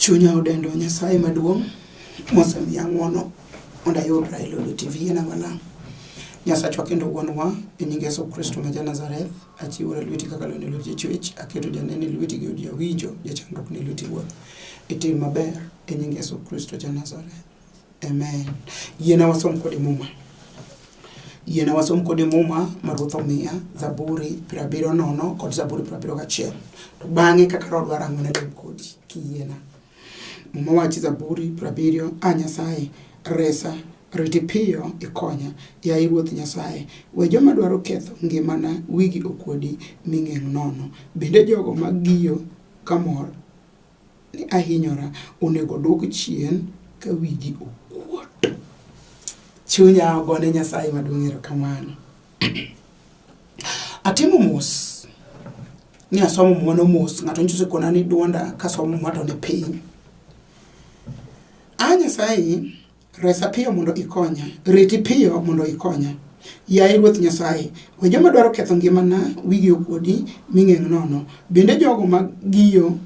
chunya odendo nyasaye maduong' mosemiya ng'wono mondo ayud Raila Odinga TV en ang'o lang'. Nyasachwa kendo wuonwa e nying Yesu Kristo ma ja Nazareth. Achiwora lweti kaka lweny e lwet jachwech, aketo janeno e lweti gi od jawinjo, jachandruok ni e lweti Wuoth. Itim maber e nying Yesu Kristo ja Nazareth. Amen. Yiena wasom kode muma. Yiena wasom kode muma ma Ruoth omiya, Zaburi piero abiriyo nono kod Zaburi piero abiriyo gachiel. To bang'e kaka roho dwaro ang'o ne lem kodi kiyiena. Muma wachi Zaburi prabiriyo, A Nyasaye, resa, riti piyo ikonya, yaye Ruoth Nyasaye. We joma dwaro ketho ngimana wigi okuodi mi ng'eng' nono, bende jogo ma giyo kamor ni ahinyora onego odwok chien ka wigi okuot. Chunya ogone Nyasaye maduong' erokamano. Atimo mos ni asomo muma no mos ng'ato nyiso kona ni duonda kasomo muma to ni piny. A Nyasaye resa piyo mondo ikonya, reti piyo mondo ikonya. Yaye Ruoth Nyasaye, we joma dwaro ketho ngimana wigi okuodi ming'eng' nono, bende jogo ma giyo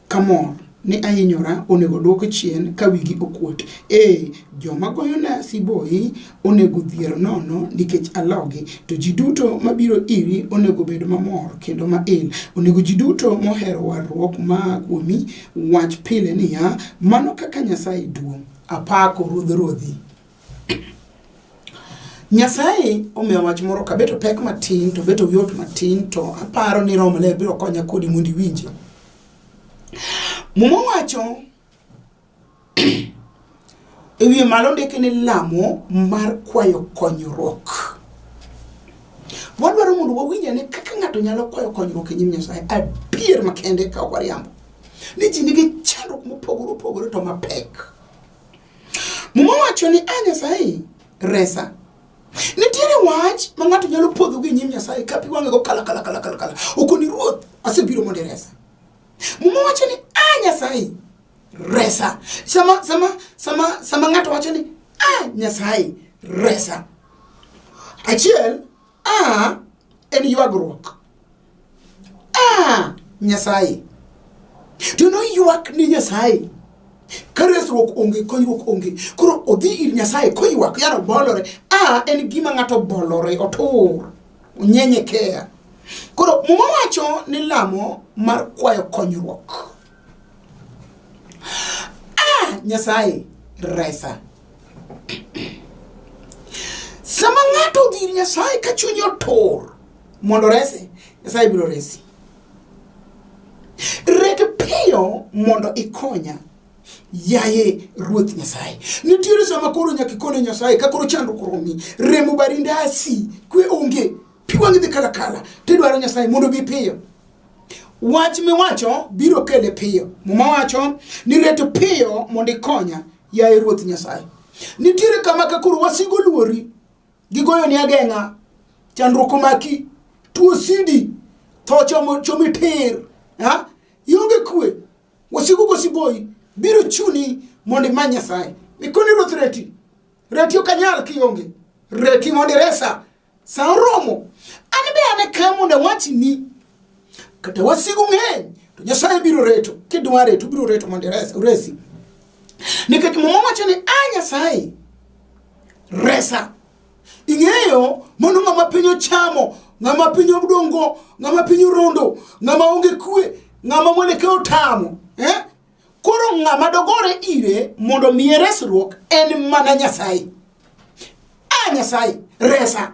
kamor ni ahinyora onego odwok chien ka wigi okuot. Ee, joma goyona siboi onego odhier nono nikech alogi, to ji duto mabiro iri onego obed mamor kendo mail. Onego ji duto mohero warruok maa kuomi wach pile niya, Mano kaka Nyasaye duong'! Apako Ruodh Ruodhi. Nyasaye omiya wach moro kabeto pek matin to beto yot matin to aparo ni Roho Maler biro konya kodi mondo iwinje. Muma wacho e wiye malo ndike ni lamo mar kwayo konyruok. Wadwaro mondo wawinj ane kaka ng'ato nyalo kwayo konyruok e nyim Nyasaye adier makende ka ok wariambo. Ni ji nigi chandruok mopogore opogore to mapek. Muma wacho ni a Nyasaye resa. Nitiere wach ma ng'ato nyalo podho gi nyim Nyasaye ka pi wang'e go kala kala kala kala kala. Okoni ruoth asebiro mondo iresa. Muma wacho ni a Nyasaye resa. Sama sama sama sama ng'ato wacho ni a Nyasaye resa. Achiel a en ywagruok a nyasaye to noywak ni nyasaye ka resruok onge konyruok onge koro odhi ir nyasaye koywak yaro bolore a en gima ng'ato bolore otur onyenyekeya koro muma wacho ni lamo mar kwayo konyruok a nyasaye resa Sama ng'ato odhi ir Nyasaye ka chunye otur mondo orese, Nyasaye biro resi. Red piyo mondo ikonya yaye ruoth nyasaye nitiere sama koro nyaka ikone nyasaye ka koro chandruok romi remo barinde asi kwe onge pi wang'i dhi kalakala tidwaro nyasaye mondo bi piyo wach miwacho biro kele piyo muma wacho ni ret piyo mondo ikonya Yaye Ruoth Nyasaye, nitiere kama ka koro wasigo luori, gigoyoni ageng'a, chandruok omaki, tuo sidi, tho chomo- chomi tir, ha? ionge kwe, wasigu gosiboyi, biro chuni mondo imany Nyasaye. Mikoni Ruoth reti, reti ok anyal kionge, reti mondo iresa, Sa oromo, an be an e ka mondo awachni, kata wasigu ng'eny, to Nyasaye biro reto, kidwa reto, biro reto mondo iresi. Nikech Muma wacho ni, a ah, Nyasaye, resa. Ing'eyo, mondo ng'ama piny ochamo, ng'ama piny odongo, ng'ama piny orondo, ng'ama onge kwe, ng'ama mwene ka otamo, eh? Koro ng'ama dogore ire mondo miye resruok en mana Nyasaye. A ah, Nyasaye, resa.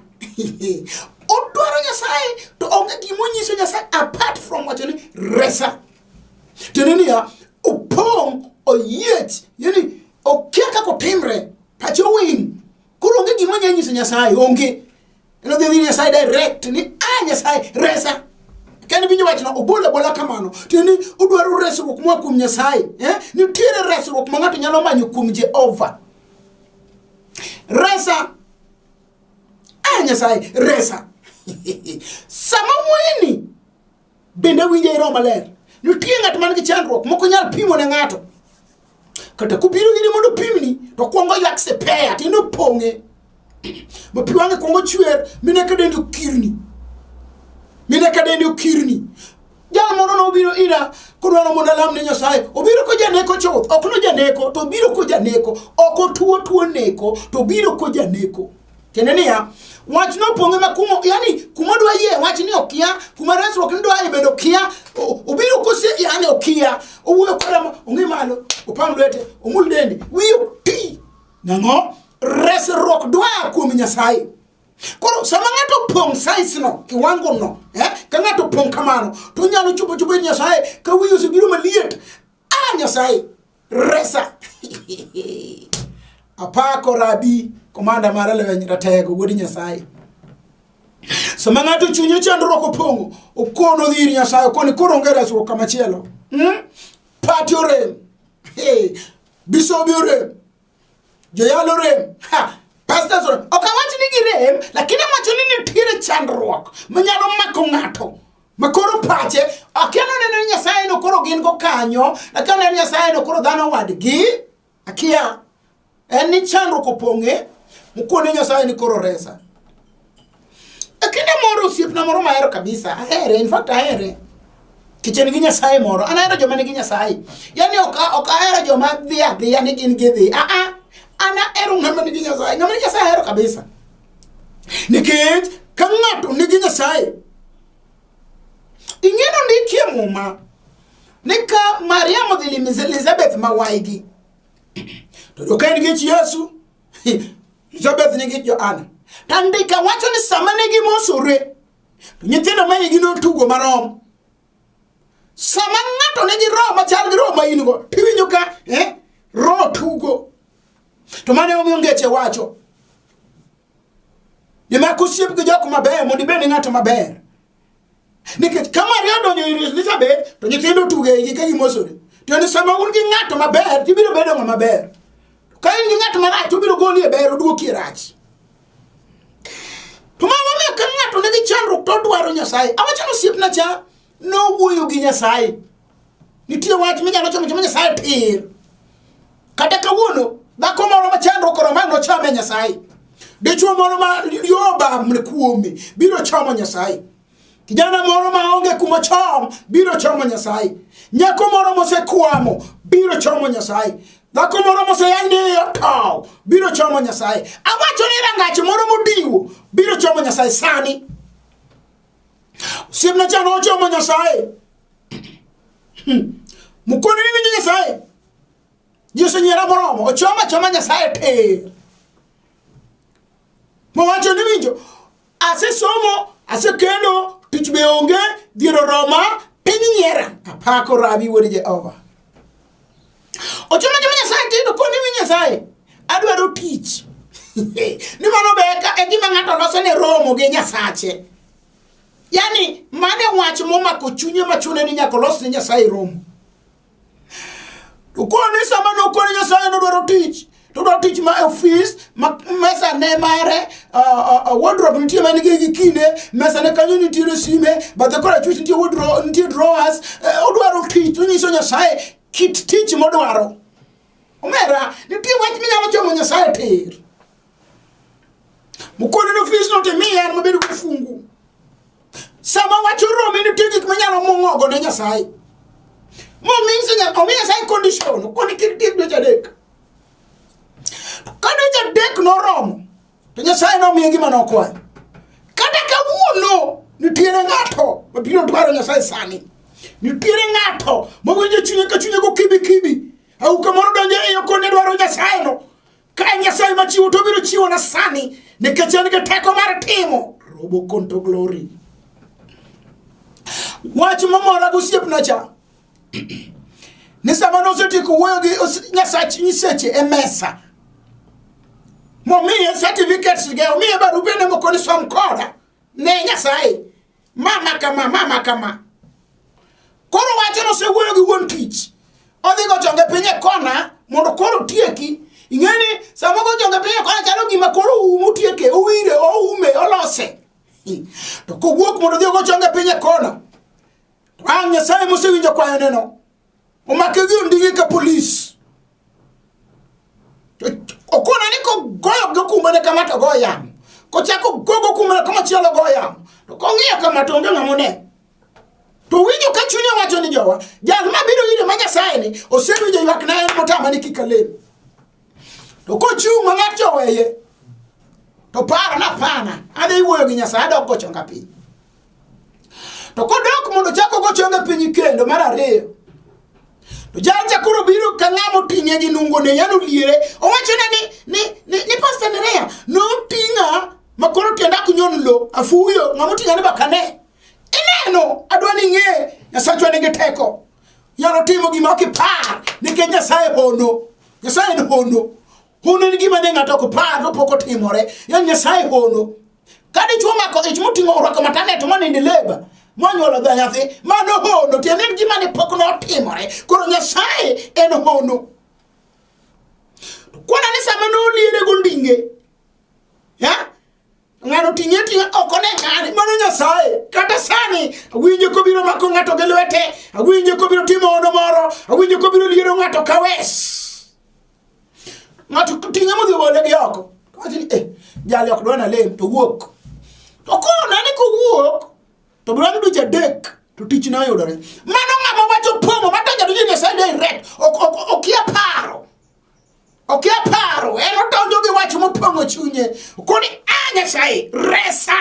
Odwaro Nyasaye to onge gima onyiso Nyasaye apart from wacho ni resa. Tiende niya, opong' oyiech, yani okia kaka otimre, pache owiny, Koro onge gima nyalo nyiso Nyasaye, onge. Eno dhi dhiri Nyasaye direct ni, ah Nyasaye, resa. Kani binyo wachno, obola bola kamano. Tiyo ni, udwaro resruok mwa kum Nyasaye. Eh? Ni tire resruok ma ng'ato nyalo manyo kum Jehova. Resa. Ah Nyasaye, resa. Sama mwini, Bende winje e Roho Maler. Nitie ng'at man gi chandruok moko nyal pimo ne ng'ato. Kata kubiro ire mondo pimni to kwongo ywak sepeya to inopong'e. Ma pi wang'e kwongo chwer mine ka dendi okirni. Mine ka dendi okirni. Jal moro nobiro ira kodwaro mondo alam ne Nyasaye. Obiro ko janeko chuth, ok no janeko to obiro ko janeko. Ok otuo tuo neko to obiro ko janeko. tiende niya wach nopong'e ma kumo yani kuma dwa yie wach ni okia kuma resruok ni dwa bedo okia obiro kose yani okia owuoyo koda ong'e malo opam lwete omul dende wiye ti nang'o resruok dwa kuom nyasaye koro sama ng'ato opong' size no kiwango no eh? ka ng'ato opong' kamano to onyalo chopo chopo ir nyasaye ka wiye osebiro maliet Ah, Nyasaye, resa. Apako rabi, komanda mara leweny ratego, wuod Nyasaye. Sama ng'ato chunye chandruok opong'o, okono dhi ir Nyasaye, okoni koro onge resruok kama chielo. Hmm? Pati orem. Hey, bisobi orem. joyalo rem pastors ok awach ni girem lakini amacho ni nitiere chandruok manyalo mako ng'ato makoro pache akia noneno ni nyasaye no koro gin go kanyo akia noneno nyasaye no koro dhano wadgi akia en ni chandruok opong'e mokone nyasaye ni koro resa E kinde moro osiepna moro mahero kabisa, ahere, in fact ahere. Kichen gi Nyasaye moro, an ahero joma nigi Nyasaye. Yani ok ok ahero joma dhi adhiya ni gin gidhi. A a an ahero ng'ama nigi Nyasaye, ng'ama nigi Nyasaye ahero kabisa. Nikech ka ng'ato nigi Nyasaye, ing'eno ndikie muma ni ka Mariam odhi limo Elizabeth ma waygi, to doka en gi Yesu, Elizabeth nyinge Joana. To andika wacho ni sama ne gimosore, to nyithindo ma igi notugo marom. Sama ng'ato nigi roho machal gi roho ma in go, tiwinjo ka eh, roho tugo. To mane omiyo ngeche wacho. Nimar kosiep gi jok mabeyo mondo ibed ng'at maber. nikech ka maria odonjo ir elizabeth to nyithindo otugo eigi ka gimosore to ni sama un gi ng'ato maber tibiro bedo ng'a maber ka in gi ng'at marach to obiro goli e ber oduoki e rach to mano miyo ka ng'ato nigi chandruok to odwaro nyasaye awachano osiepna cha nowuoyo gi nyasaye Nitie wach minyalo chamo chamo Nyasaye pir. Kata kawuono dhako moro ma chandro koro ma nochame Nyasaye. Dichwo moro ma yoba mne kuome biro chamo Nyasaye. Kijana moro ma onge kuma chom biro chamo Nyasaye. Nyako moro mosekwamo biro chamo Nyasaye. Dhako moro moseyang ni otow biro chamo Nyasaye. Awacho ni rangach moro modiwo biro chamo Nyasaye sani. Siemna chano ochomo Nyasaye. mukone ni winjo nyasaye ji osenyiera moromo ochoma choma nyasaye ter mowacho ni winjo asesomo asekendo tich be onge dhier oroma piny nyiera apako rabi wuod jehova ochoma choma nyasaye ter to koni winjo nyasaye adwaro tich ni mano be e gima ng'ato loso ne romo gi nyasache yani mane wach momako chunye machune ni nyaka olos ne nyasaye romo to koro ni sama nokone nyasaye nodwaro tich to dwa tich ma ofis ma mesa ne mare wardrobe nitie man gi gi kinde mesa ne kanyo nitiere sime bathe kora chuch nitie wardrobe nitie drawers eh, odwaro tich to nyiso nyasaye kit tich modwaro omera nitie wach minyalo chomo nyasaye tir Mukono no fees no te miya mabedo gi fungu. Sama wacho romi ni tigi kuma nyalo mongogo ne Nyasaye. Mo means that omi Nyasaye condition koni kiri tiri dweche adek. Ka dweche adek noromo to Nyasaye nomiye gima nokwayo. Kata kawuono nitiere ng'ato mabiro dwaro Nyasaye sani. Nitiere ng'ato mawinjo chunye ka chunye go kibi kibi. Au kamoro donjo e yo kone dwaro Nyasaye no. Ka Nyasaye machiwo to biro chiwo na sani nikech en gi teko mar timo robo konto glory. Wach momora gosiepna cha ni sama nosetieko wuoyo gi nyasach nyiseche e mesa momiye certificates ge omiye barupene moko ni som koda ne Nyasaye mama kama mama kama koro wacho nosewuoyo gi wuon tich odhi gochonge piny e kona mondo koro tieki ing'eni sama gochonge piny e kona chalo gima koro oumo tieke owire oume olose to kowuok mondo odhi ogochonge piny e kona to ang' nyasaye mosewinjo kwayoneno omakegi ondingi ka polis okona ni kogoyo gokumbene kama to go yamo kochako gogo kumbene kama chielo go yamo to kong'iyo kama to onge ng'amone to winjo ka chunye wacho ni jowa jal ma biro ire ma nyasaye ni osewinjo ywak na en motama ni kik alem to kochung' ma ng'at joweye to paro na pana adhi wuoyo gi nyasaye adok gochonga piny To kodok mondo ochak ogo chonge piny kendo mar ariyo, to jalcha koro biro ka ng'ama oting'e gi nungone yano liere owachone ni, ni, ni, ni pasta nerea noting'a ma koro tienda ok nyon lo afuyo ng'ama oting'a ni bakane ineno adwa ni ng'e nyasachwa nigi teko yano timo gima ok ipar nikech nyasaye hono nyasaye en hono Hono en gima ne ng'ato ok par to pok otimore. Ya Nyasaye hono. Ka dichwo mako ich moting'o orwako matane to monindo leba monyuolo dha nyathi mano hono tiende en gima ne pok notimore koro Nyasaye en hono. Kwana ni sama noliere gondinge ya ng'ano ting'e ting'e ok one ng'ani mano nyasaye kata sani awinjo kobiro mako ng'ato gi lwete awinjo kobiro timo ono moro awinjo kobiro liero ng'ato kawes ng'ato ting'e modhi gole gi oko wacho ni eh jali ok dwana lem to wuok to kona ni kowuok to bang' dweche adek to tich ne oyudore mano ng'ama wacho pong'o matonja donjo nyasaye direct okia paro okia paro en odonjo gi wach mopong'o chunye koni a ah, nyasaye resa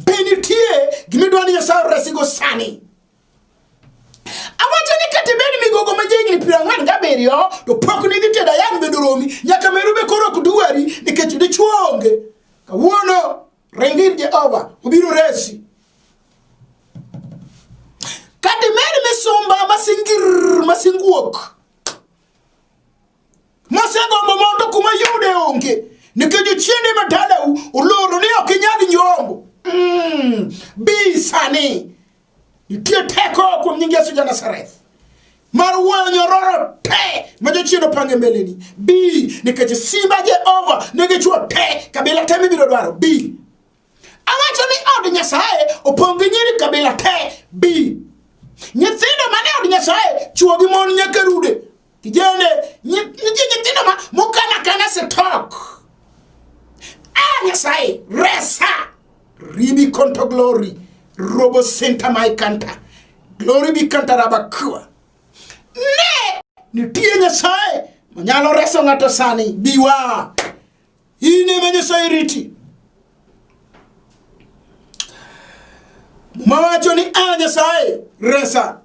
be nitie gimidwa ni nyasaye oresigo sani Awacho ni kata ibed migogo ma jahigni piero ang'wen gabiriyo to pok ne idhi tedo ayang' bedo romi nyaka meru be koro ok dwari nikech dichwo onge. Kawuono ring ir Jehova obiro resi. Kata imed misumba masingir masinguok masegombo mondo kuma yude onge nikech ochiende ma dalau oloro ni ok inyal nyombo. Mm, bi sani Nitie teko kuom nying Yesu Janasareth mar wuoyo nyororo te ma jochien opange mbeleni. Bi nikech simba Jehova ne gichwo te kabila te mibiro dwaro. Bi awacho ni od Nyasaye opong' gi nyiri kabila te. Bi nyithindo mane od Nyasaye chwo gi mon nyaka rude Kijende, nitie nyithindo ma mokana kana setok. Ah, Nyasaye, resa. Ribi konto glory. Robo senta mai kanta. Glory bi kanta rabakua. Ne, nitie Nyasaye, manyalo reso ng'ato sani. Biwa. in ema nyasaye riti muma wacho ni a nyasaye resa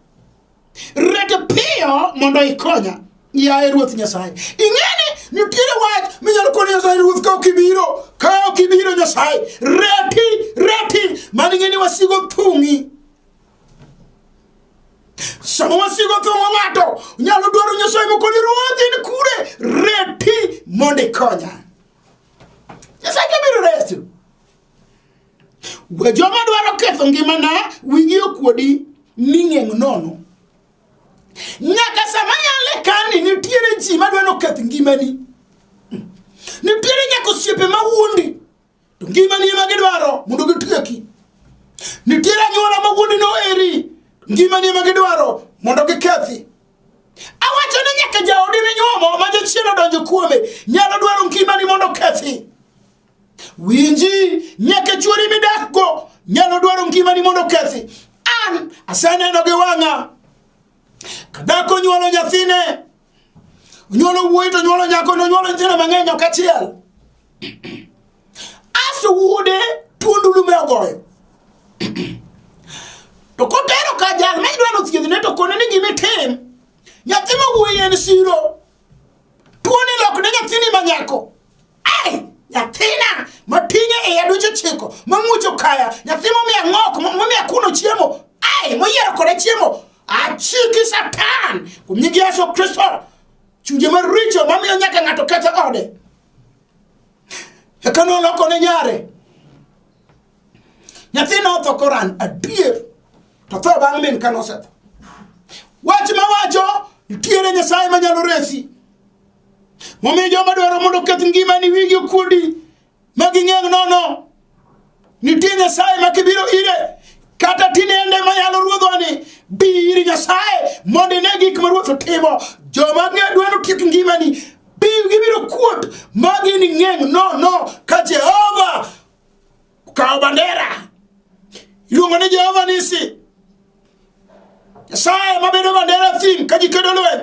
rete piyo mondo ikonya yaye ruoth nyasaye ing'eni nitiere wach minyalo koni nyasaye ruoth ka ok ibiro ka ok ibiro nyasaye reti reti mano ing'eni wasigo thung'i sama wasigo thong'o ng'ato nyalo dwaro nyasaye mokoni ruodhi ni kure reti mondo ikonya nyasaye ke biro resi we joma dwaro ketho ngimana wingi okuodi ming'eng' nono nyaka sama yale kani nitiere ji madwa noketh ngimani nitiere nyaka osiepe ma wuondi To ngima ni ema gidwaro mondo gitieki. Nitiere anyuola ma wuondi no eri ngima ni ema gidwaro mondo gikethi. Awacho ni nyaka jaodi minyuomo ma jachien odonjo kuome nyalo dwaro ngima ni mondo kethi. Winji nyaka chuori midakgo nyalo dwaro ngima ni mondo kethi. An aseneno gi wang'a kadhako nyuolo nyathine onyuolo wuoyi to onyuolo nyako to onyuolo nyithindo mang'eny ok achiel asto wuode tuo ndulume ogoyo to kotero ka jal ma idwano thiedhne to kone ni gimitim nyathi ma wuoyi en siro tuoni lokne nyathini ma nyako Ai, nyathina mating'e e iya dweche chiko mamuocho kaya nyathi momiya ng'ok mo- momiya kuno chiemo ai moyiero koda chiemo achiki satan kuom nying yesu kristo chunje maricho mamiyo nyaka ng'ato ketho ode eka noloko ne nyare nyathi notho koran adier to tho bang' min ka nosetho wach mawacho nitiere nyasaye manyalo resi Momiyo joma dwaro mondo oketh ngimani wigi okuodi ma ging'eng nono. Nitie Nyasaye ma kibiro ire kata tinende ma yalo ruodhoni bi iri Nyasaye mondo ine gik ma ruoth otimo. Joma dwaro tiek ngimani gibiro kuot ma gini ng'eng nono ka Jehova kawo bandera. Iluongo ni Jehova nisi. Nyasaye mabedo bandera thim ka ji kedo lweny.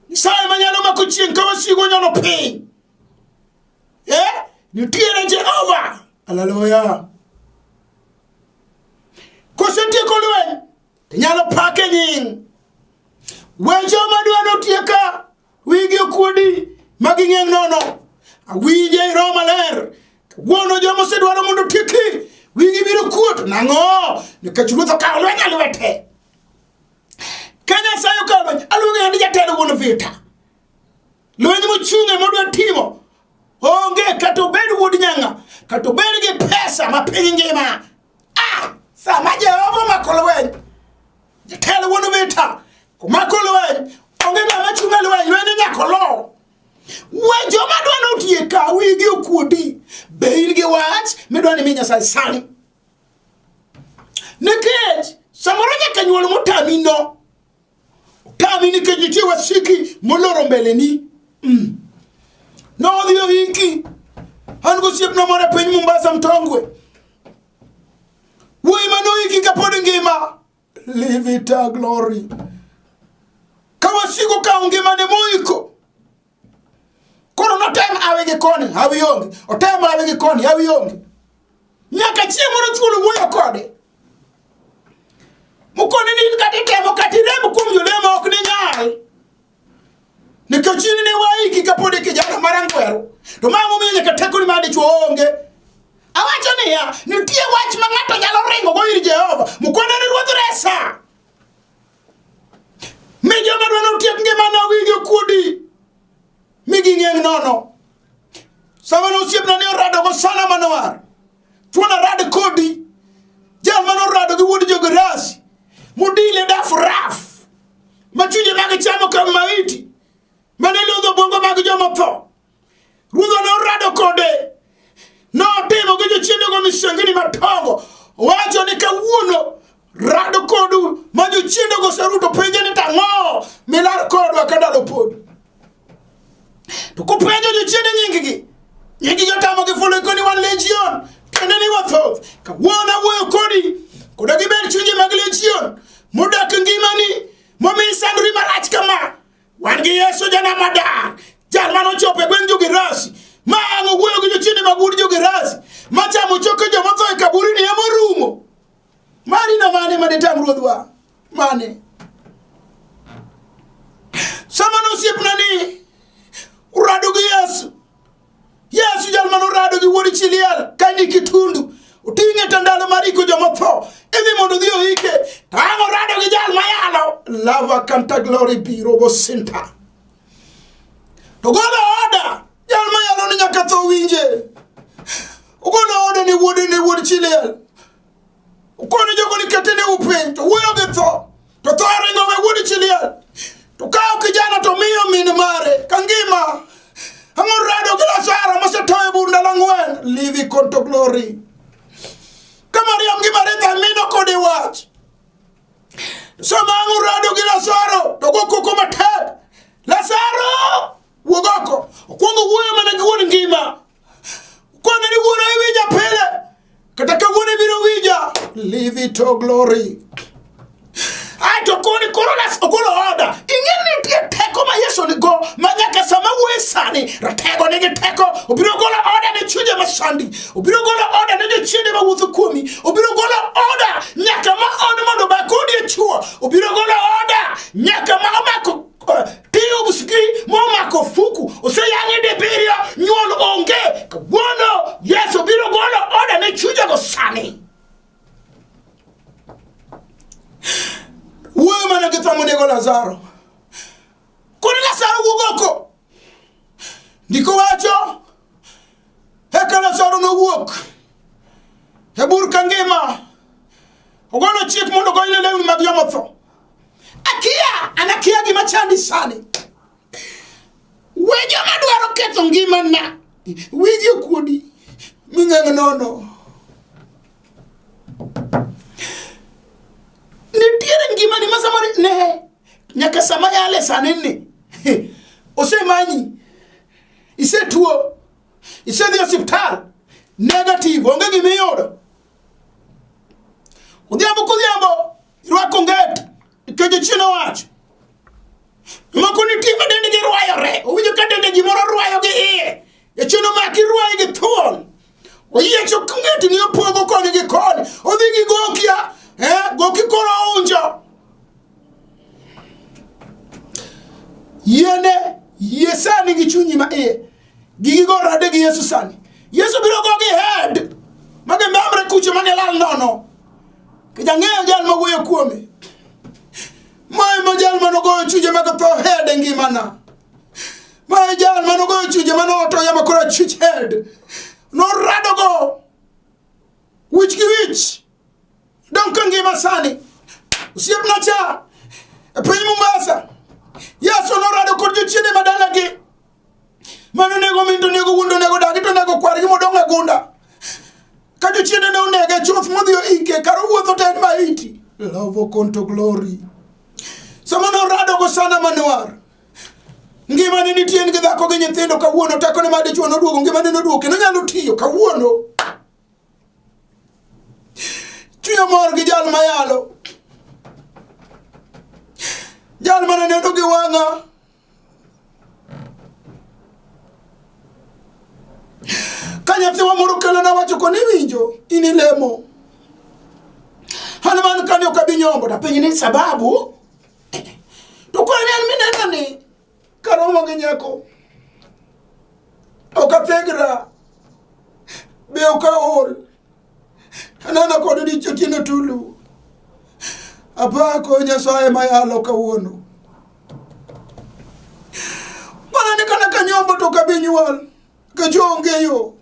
Nyasaye manyalo mako chieng' ka wasigo nyono piny. Eh? Nitiere Jehova. Haleluya. Kosetieko lweny, inyalo pake nying. We joma dwa notieka wigi okuodi ma ging'eng' nono. Awinje i Roho Maler. Wuono joma osedwaro mondo otieki wigi biro kuot. Nang'o? Nikech ruoth okawo lweny e lwete. ka nyasaye okawo loch aluonge ni jatelo wuon vita lweny mochung'e modwa timo onge kata obed wuod nyanga kata obed gi pesa ma piny ngima a sama jehova omako lweny jatelo wuon vita komako lweny onge ng'ama chung'e lweny lweny inyako lowo we joma dwa notieka wigi okuodi be in gi wach midwa ni mi nyasaye sani nikech samoro nyaka nyuol motami no otami nikech nitie wasiki moloro mbeleni mm. nodhi oiki an gosiepna moro e piny mombasa mtongwe wuoyi manoiki kapod ngima Live it a glory. Kawa siku ka ungima ni muiko. Koro no tem awe gi koni, awe yongi. O tem awe gi koni, awe yongi. Nyaka chie moro chulu wuyo kode. Mukoni ni kati temo kati remo kum yulemo okni nyari. nikech in ne waiki kapod ikijana marangweru to ma momiyo nyaka tekoni ma dichwo onge awacho niya nitie wach ma ng'ato nyalo ringogo ir jehova mukwanene ruodh resa mi joma dwa notiek ngimane owinji okuodi mi ging'eng' nono samane osiepna ni oradogo sana manowar Thuon arad kodi jal mane orado gi wuod jogerasi mudile daf raf ma chunje mag chamo ka maiti mane lodho bongo mag joma tho ruodha ne orado kode notimo gi jochiendego misengini matongo wacho ni kawuono Rado kodu ma jochiende goseruto penje ni tang'o milar kodwa ka ndalo pod. To kupenjo jochiende nyinggi, nyingi jotamo gi fulu ikoni wan legion, kende ni wathoth. Ka wuon awuoyo kodi, koda gibed chunje mag legion, modak ngimani, momi sandri marach kama. Wan gi Yesu jana madar, jal mano chope gweng' jogerasi, ma ang' owuoyo gi jochiende mag un jogerasi, ma chamo choke joma tho e kaburi ni emorumo. Mani na mane ma detam ruodhwa? Mane? Sama nosiepna ni urado gi Yesu. Yesu jal mano rado gi wuod Chiliel ka ni kitundu. Uting'e ta ndalo mar iko joma tho. Idhi mondo dhi oike. To ang' orado gi jal mayalo. Lava kanta glory biro go sinta. To golo oda Jal ma yalo ni nyaka tho winje. Ogolo ode ni wuode ni wuod chilel. Okono jogo ni kete ni upiny to wuoyo gi tho. To tho ringo we wuod chilel. To kawo kijana to miyo min mare ka ngima. Ang'o rado gi Lazaro mosetoyo bur ndalo ang'wen. Live conto glory. Ka Mariam gi Maritha mino kode wach. Sama ang'o rado gi Lazaro to gokoko matek. Lazaro! Wuog oko. Okwongo wuoyo mana gi wuon ngima. Kwana ni wuoro iwinja pile. Kata ka wuon ibiro winja. Leave it to glory. Ai to koni koro nas ogolo oda. Ing'e ni nitie teko ma Yesu nigo ma nyaka sama wuoye sani ratego nigi teko obiro golo oda ne chunje ma sandi obiro golo oda ne jochiende ma wuotho kuomi obiro golo oda nyaka ma on mondo obak odiechuo obiro golo oda nyaka ma omako Tiyo gi momako fuku oseyang'e dibiriyo nyuol onge kawuono Yesu biro golo oda ne chujego sani wuoyo mana gi thamonego Lazaro kod Lazaro wuog oko ndiko wacho eka Lazaro nowuok e bur ka ngima ogolo chik mondo ogonyne lewni mag jomotho Akia, an akia gima chandi sani. We joma dwaro ketho ngimana, wigi okuodi, ming'eng' nono. Nitiere ngimani ma samoro ne nyaka sama yale sani ni osemanyi, isetuo, isedhi e osiptal, negative, onge gimiyudo. Odhiambo kodhiambo Irwako nget nikech chien owacho. Moko nitie ma dendgi rwayore, owinjo ka dende gimoro rwayo gi iye. Jachien omaki rwaye gi thuol. Oyiecho ngetni opogo koni gi koni, odhi gi gokia, eh, goki koro ounjo. Yiene, yie sani gi chunyi ma iye. gigi go rade gi yesu sani yesu biro go gi head mage memre kucho mane lal nono kijang'eyo jal mawuoyo kuome mae ma jal manogoyo chuje mag tho head e ngimana mae jal manogoyo chuje manoto yama koro chuch head noradogo wich gi wich dong ka ngima sani osiepna cha e piny mombasa yesu norado kod jochiende madalagi Mano nego min to nego wuon to nego dagi to nego kwargi modong' e gunda. Ka jochiende ne onege chuth modhi oike kar owuotho to en maiti. Love conto glory. Sama ne orado go sana manuar. Ngima ne nitie gi dhako gi nyithindo kawuono teko ne made chuo noduogo ngima ne noduogo kendo nyalo tiyo kawuono. Chuyo mor gi jal mayalo. Jal mana neno gi wang'a Kanyathwa moro kelo na wacho koni winjo ini lemo. Hanuman kani okabi nyombo da penyi ni sababu. To kwa ni minena ni karomo gi nyako. Okathegra. Be okaol. Aneno kod richo tieno tulu. Apako Nyasaye mayalo kawuono. Mana ni kana kanyombo to kabi nyuol kajonge yo.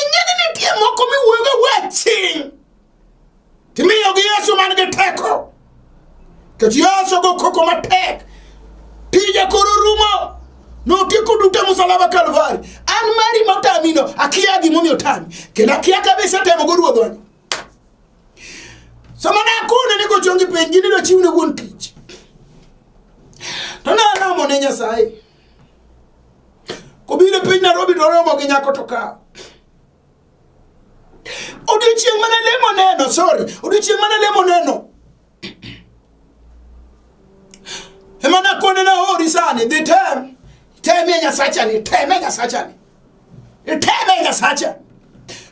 Ing'eni nitie moko miwuoyoga waching' Timiyogi Yesu man gi teko. Kech Yesu go koko matek. Tije koro rumo. Notieko duto e musalaba Kalvari. An mari motamino akia gimomiyo otami. Kendo akia kabe isetemo go ruodhwani. Sama ne akone ni gochongi piny gini do chiwne wuon tich. To ne alamo ne Nyasaye. Kobiro e piny Nairobi to oromo gi nyako to kawo. odiochieng' mana lemo neno sorry odiochieng' mana lemo neno ema nakone nahori sani dhi tem teme nyasachani teme nyasachani iteme nyasacha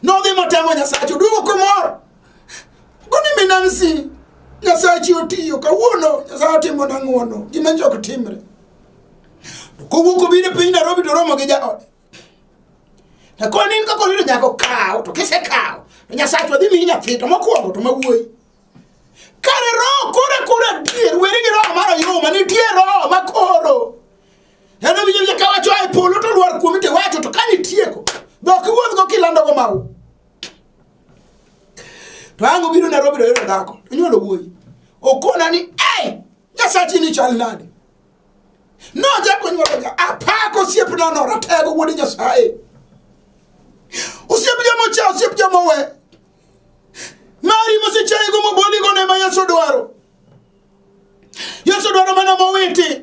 nodhi motemo nyasacha oduogo komor goni minansi nyasachi otiyo kawuono nyasaye otimo nang'uono gima jok timre kowuok obiro e piny narobi to romo gi jaode to koro in kaka oyudo nyaka okaw to kisekaw to nyasaye to dhi miyi nyathi to mokwongo to mawuoyi kare roho kore kore adier weri gi roho mar oyuma nitie roho ma koro en owinjo winjo ka wacho ae polo to lwar kuomi to iwacho to kane itieko dhok iwuodhgo kilandogo mau to ang' obiro nairobi to oyudo dhako onyuolo wuoyi okona ni ei nyasachi ni chal nade nochako nyuologa apako osiep nono ratego wuod nyasaye osiep joma ocha osiep joma owe mari mosechayego moboligo ne ma yesu dwaro yesu dwaro mana mowiti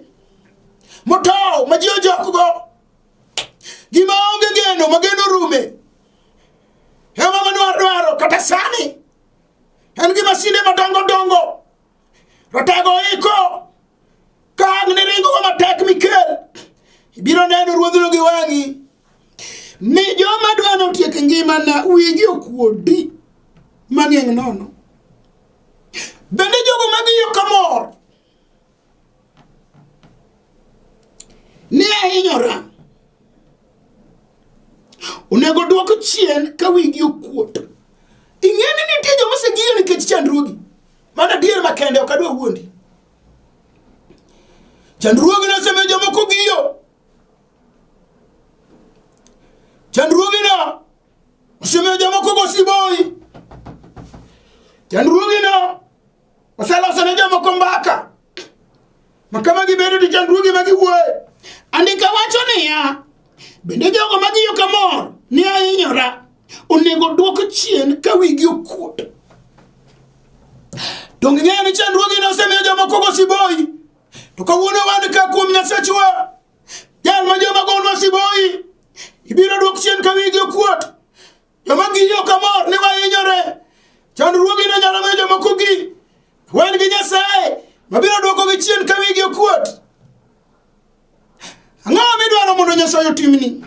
motow ma ji ojokgo gima onge geno ma geno rume ema madwaro dwaro kata sani en gi masinde madongo dongo Ratego iko ka ang' ni ringogo matek mikel ibiro neno ruodhno gi wang'i ni joma dwa notiek ngimana wigi okuodi mang'eng' nono bende jogo magiyo kamor Ne ahinyora. Onego dwok chien ka wigi okuot. Ing'e ni nitie joma osegiyo nikech chandruogi. Mano adier makende ok adwa wuondi. Chandruogi nosemiyo jomoko giyo. Chandruogino osemiyo jomoko gosiboyi. Chandruogino oseloso ne jomoko mbaka. Ma kama gibedo to chandruoge ma giwuoye. Andika wacho niya, bende jogo ma giyo kamor ni ahinyora onego dwok chien ka wigi okuot. To ng'eyo ni chandruoge ne osemiyo jomoko go siboyi. To kawuono wan ka kuom Nyasachwa, jal ma joma gonwa siboyi, ibiro dwok chien ka wigi okuot. Joma gi yo kamor ni wahinyore. Chandruogi ne nyalo miyo jomoko gi wen gi Nyasaye mabiro dwoko gi chien ka wigi okuot. Ang'o midwaro mondo Nyasaye otimni?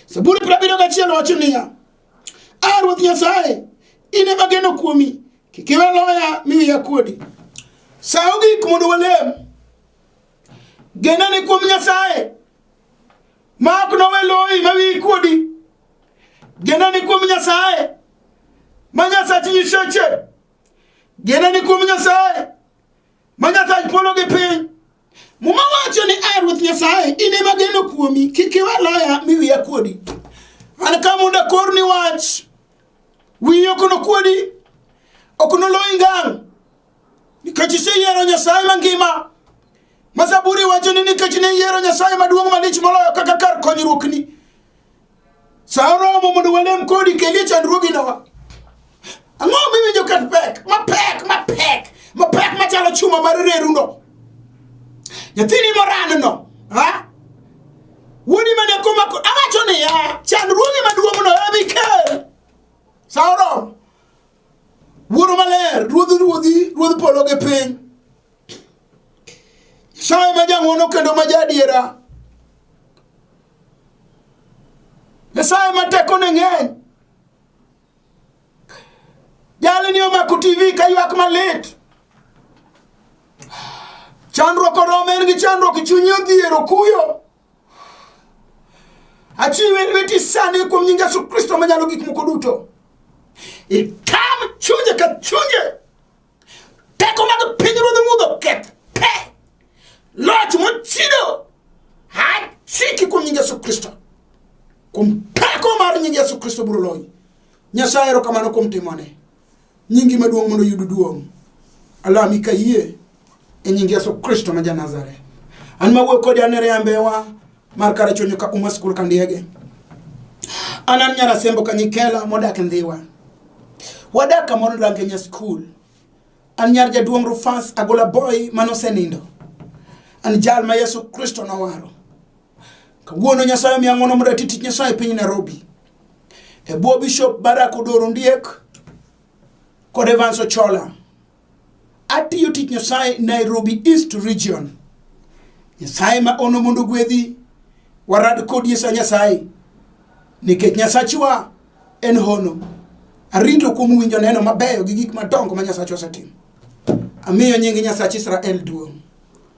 Zaburi prabiro gachiel wacho niya, A Ruoth Nyasaye, in ema geno kuomi, kik iwe loya mi wiya kuodi. Saw gik mondo walem. Genane kuom Nyasaye ma ok nowe loyi ma wiyi kuodi genani kuom nyasaye ma nyasach nyiseche genani kuom nyasaye ma nyasach polo gi piny muma wacho ni a ruoth nyasaye in ema geno kuomi kik iwe loya mi wiya kuodi an ka mondo akorni wach wiyi ok nokuodi ok noloyi ngang' nikech iseyiero nyasaye mangima Ma Zaburi wacho ni nikech ne iyiero Nyasaye maduong' malich moloyo kaka kar konyruokni. Sa oromo mondo walem kodi kelie chandruoginowa. Ang'o miwinjo kat pek? Mapek, mapek, mapek machalo chuma mar reruno. Nyathini moranno, ha? Wuodi mane komako, awacho niya, chandruogi maduong'no ema ikel. Sa oromo. Wuoro maler, ruodh ruodhi, ruodh polo gi piny. Nyasaye ma jang'wono kendo ma jaadiera. Nyasaye ma tekone ng'eny. Jalni omako TV ka ywak malit. Chandruok orome en gi chandruok chunye odhiero kuyo. Achiwe e lweti sani kuom nying Yesu Kristo manyalo gik moko duto. Itam chunje ka chunje. Teko mag pinyruodh mudho keth pe. Loch mochido. Achiki kuom nying Yesu Kristo. Kuom teko mar nying Yesu Kristo biro loyi. Nyasaye erokamano kuom timone. Nyingi maduong' mondo yud duong'. Alami kayie e nying Yesu Kristo ma Janazareth. An ma wuoyo kodi anere ambewa mar kara chonyo ka uma skul ka ndiege. An an nyara sembo ka nyikela modak ndhiwa. Wadak kamoro range nya skul. An nyar jaduong' Rufas agola boy manosenindo. An jal ma Yesu Kristo nowaro. Kawuono Nyasaye omiya ng'wono mondo ati tich Nyasaye e piny Nairobi. e bwo Bishop Barak Odoro Ndiek kod Evans Ochola. Atiyo tich Nyasaye Nairobi East Region. Nyasaye ma ono mondo gwedhi warad kodi sa Nyasaye nikech Nyasachwa en hono. Arito kuom winjo neno mabeyo gi gik madongo ma Nyasachwa osetimo. Amiyo nying Nyasach Israel duong'.